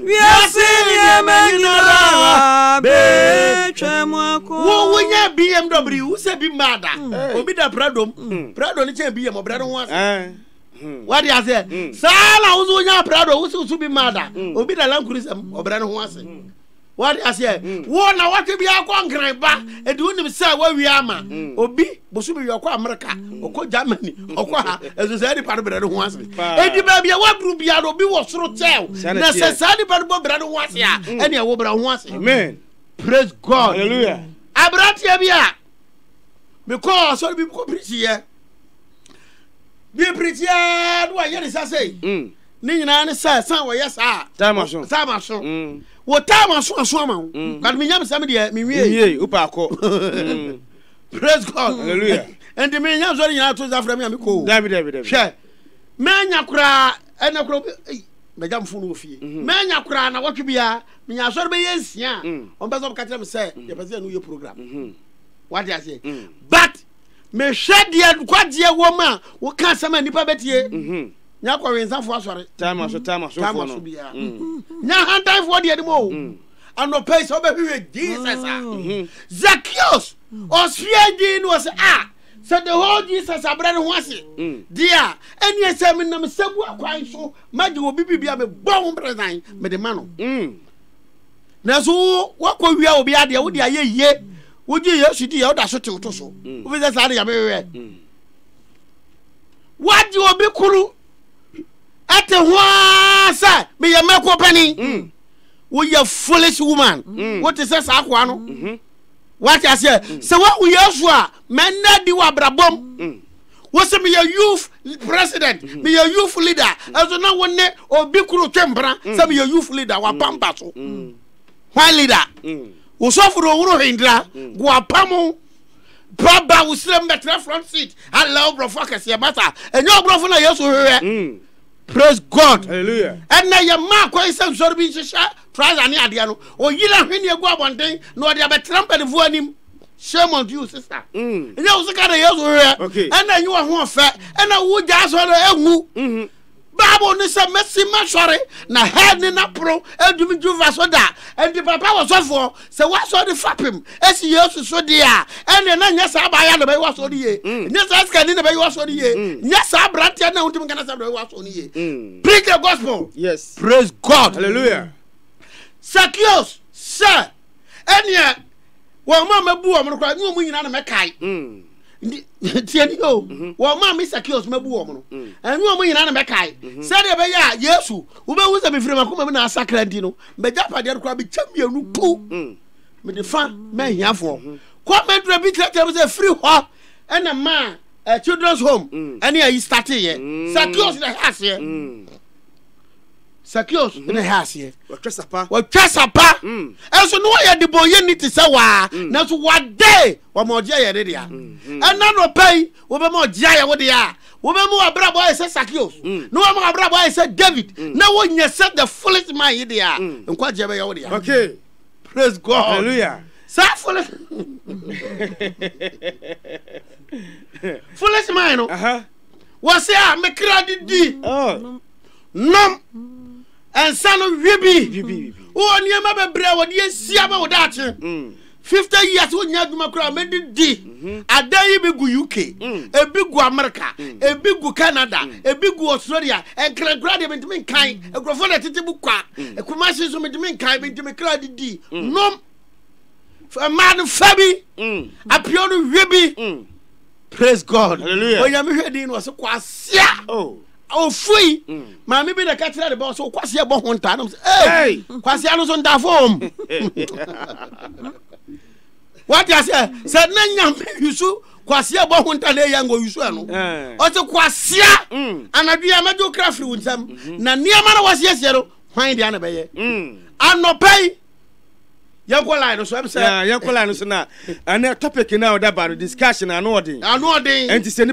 Wiase nneɛma nyinara betwam akɔ. Wo wonya BMW wo sɛ bi mmaa da. Hmm. Obi da Prado mu. Hmm. Prado no kyɛn BM ɔbrɛ no ho ase. Eh. Hmm. Wade aseɛ. Saa na wo so wonya Prado wo sɛ wo so bi mmaa da. Obi da Land Cruiser mu ɔbrɛ no ho ase. Wade aseɛ. Wo na wɔtwe bi akɔ nkran ba. Ɛdi wonim sɛ wɔawie ama. Obi bosome wi ɔkɔ amerika ɔkɔ germany ɔkɔ ha ɛso saa nipa no brɛ no ho ase ɛdi baabi a waduru bia no obi wɔ soro kyɛw na sɛ saa nipa no bɔ brɛ no ho ase a mm. ɛne ɛwo brɛ ho ase amen praise god hallelujah aberanteɛ bi a mekɔɔ asɔre bi kɔ pirikyiɛ bi pirikyiɛ no wayɛ ne sa sei mm. ne nyinaa ne sɛ san wɔyɛ saa taama so taama so mm. wɔ taama so aso ama wo but menyam sɛm deɛ mewie wopaakɔ praise god hallelujah ɛnti me nya nsɔre nyinaa to nsa frɛ me a mekɔ dabi dabi dabi hwɛ mɛnya koraa ɛnɛ koraa ei mɛgya mfo no wɔ fie mhm. mɛnya koraa na wɔtwe biara menya asɔre bɛyɛ nsia a mm. wɔn pɛ sɛ wɔka kyerɛ me sɛ mm. yɛpɛ sɛ yɛne woyɛ program mhm. wate aseɛ mm. but mehwɛ deɛ nkwagyeɛ wɔ mu a woka asɛm a nnipa bɛtie mhm. nya kɔwensafoɔ asɔre tama so tama so biara nya hantanfoɔ deɛ anim o anɔpa yi sɛ wobɛhwehwɛ jesus a mm-hmm. zakios ɔsoɛ din no wɔ sɛ a sɛ the whole jesus abrɛ no ho ase mm. deɛ a ɛneɛ sɛ menam sɛbua kwan so magye wɔ bi biribi a mebɔ ho brɛdan mede ma no mm. nanso wo woakɔ wia obi adeɛ wode ayɛ yie wogye yesu di yɛ woda so tew to so mm. wofi sɛ saa de yɛmewewɛ woagye obi koro ɛte ho ara sɛ meyɛ mako panin woyɛ foolish woman mm. wote sɛ saa akoa no mm-hmm. wate aseɛ mm. sɛ woahu yesu a mɛnna di wɔ abrabɔm mm. wosɛ meyɛ youth president mm-hmm. meyɛ youth leader ɛnso na wo ne obi koro twe mpena sɛ meyɛ youth leader wapampa so hwan leader wosɔfo no ɔworo hendira goapa mo baba wo serɛ mbɛtrɛ front seat alɛ woborɔfo akɛseɛ masa ɛnyɛ ɔborɔfo na yesu hwehwɛ Praise God. Hallelujah. Ɛnna yɛ mmaa kwan sɛ nsɔre bi nhyehyɛ trouser ne adeɛ no. Oyi na hwene egu abɔnten na ɔde abɛtena mpanimfoɔ anim. Shame on you sister. Mm. Ɛnyɛ wo sika na Yesu hwehwɛ. Okay. Ɛnna enyi wɔ ho ɔfɛ. Ɛnna wo gya asɔ no enwu. Mhm. Bible ne sɛ mesi masɔre na hɛn ne naporo adumi dwumfa so da. Ɛnti papa wɔ sɔfoɔ sɛ wasɔ de fapem esi yesu so deɛ a ɛnneɛ na nyɛ saa abaayewa na bɛyɛ wasɔ no yie mm. nyɛ saa sikani na bɛyɛ wasɔ no yie mm. nyɛ saa aberanteɛ na wontumi nkana sɛ bɛyɛ wasɔ no yie mm. preach the gospel yes praise god hallelujah sakios sɛ ɛnneɛ wɔn a mɛbu wɔn no koraa ne wɔn nyinaa na mɛkae tiɛni o mhm. wɔn maa mi sakios ma bu wɔn no mm. ɛnu wɔn nyinaa na mɛ kae mhm. sɛdeɛ ɛbɛyɛ a yesu wobɛhu sɛ mefiri mako ma mi na asakra nti no mɛgya padeɛ no koraa mekyɛ mmienu ku mm. mede fa mɛhiafoɔ mhm. kɔ mɛdura bi kyerɛkyerɛ mu sɛ firi hɔ ɛna maa eh, children's home ɛne ayi starte yɛ sakios na ɛhɛ aseɛ sakios na ɛhɛ aseɛ wɔtwa sapa wɔtwa sapa ɛnso ne wɔyɛ de bɔ yɛ ni te sɛ waa nanso wɔde Wɔma ɔgyeɛ yɛ ne dea. Mm-hmm. Ɛna no pɛ yi, wobɛma ɔgyeɛ ayɛ wo dea. Wobɛma w'abrabɔ ayɛ sɛ Sakeos. Mm. Na wama w'abrabɔ ayɛ sɛ David. Mm. Na wonyɛ sɛ the fullest man yi dea. Mm. Nkwagyeɛ bɛyɛ wo dea. Okay. Praise God. Hallelujah. Saa fullest. fullest man no. Uh-huh. Wɔse a mekra de di. Oh. Nom. Ɛnsa no wie bi. Wɔ nneɛma bebree a wɔde asia ma wo daakye. 50 years wo nya adwuma kura me de di mhm. adan yi bi gu UK mm. ebi gu America mm. ebi gu Canada mm. ebi gu Australia nkrankura de bintimi nkan nkurɔfoɔ na tete bu kwa Kumasi so bintimi nkan bintimi kura de di nom mmaa no fa bi apio no hwe bi praise God onyame hwɛ din no ɔsɛ kwasia oh. ofui maame bi na ɛka kyerɛ ne ba sɛ wokwase ɛbɔ ho ntaa nam sɛ ei kwasea no so ntafom wate aseɛ sɛ na nyame yusu kwasea bɔ ho nta na ɛyɛ ngo yusu ɛno ɔte kwasea anadwo a mɛgye wo kra firi wo nsam na nneɛma na wɔasiesie no hwan deɛ na bɛyɛ anɔpa yi yɛnkɔ line no so ɛm sɛ yɛnkɔ line no so na ɛnɛ topic no a ɔda ba no discussion ano ɔden ano ɔden ɛnti sɛ